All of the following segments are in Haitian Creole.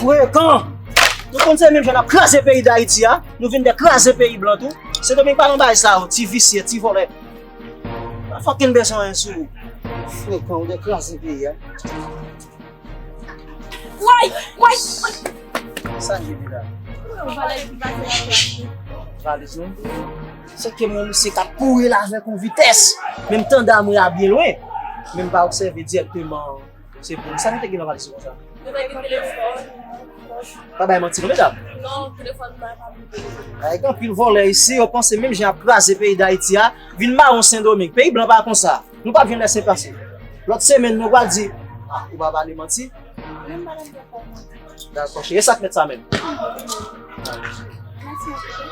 Frekan! Nou konn se menm jan n ap kraze peyi Dayiti a, nou vin de kraze peyi blan tou. Sendomeng pa nan bagay sa yo, ti visye, ti vòlè. Pa fokin bese anyen sou nou. Frekan, ou de kraze peyi a. Woy! Woy! Sa n jwenn la? Yon valèz ki pase la. Valèz nou? Sot ke mwen misye tap kouri la avèk yon vitès, men m tande amwe a byen lwen, men m pa obsève dirèkteman se poum sa nou te gen nan valiz ou konsa? Nou te gen telefòn, pòch. Pa bay manti non medam. Non, telefòn mwen pa bliye. Bagay gen anpil vòlè isi, yo panse menm jan yap kraze peyi Dayiti a, vin mawon Sendomeng. Peyi blan pa konsa. Nou pap jwenn lèse pase. Lòt semèn nou pral di, ah ou pa pale manti. Menm madam gen kòman. Dakò cheri, e sak met sa menm?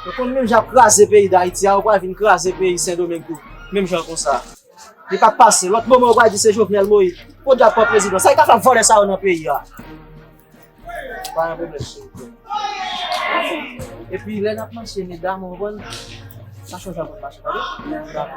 Ou konn menm jan ap kraze peyi dayiti a ou pral vin kraze peyi sendomeng tou menm jan konsa. Li pap pase, lòt moman ou pral di se jovenel moïse, podyab pran prezidan, sa yo ka fè ak vòlè sa yo nan peyi a? Pa gen pwoblèm cheri. Epi lè nap mache medam ou konprann, sa chanje avèk mache tande? Dakò.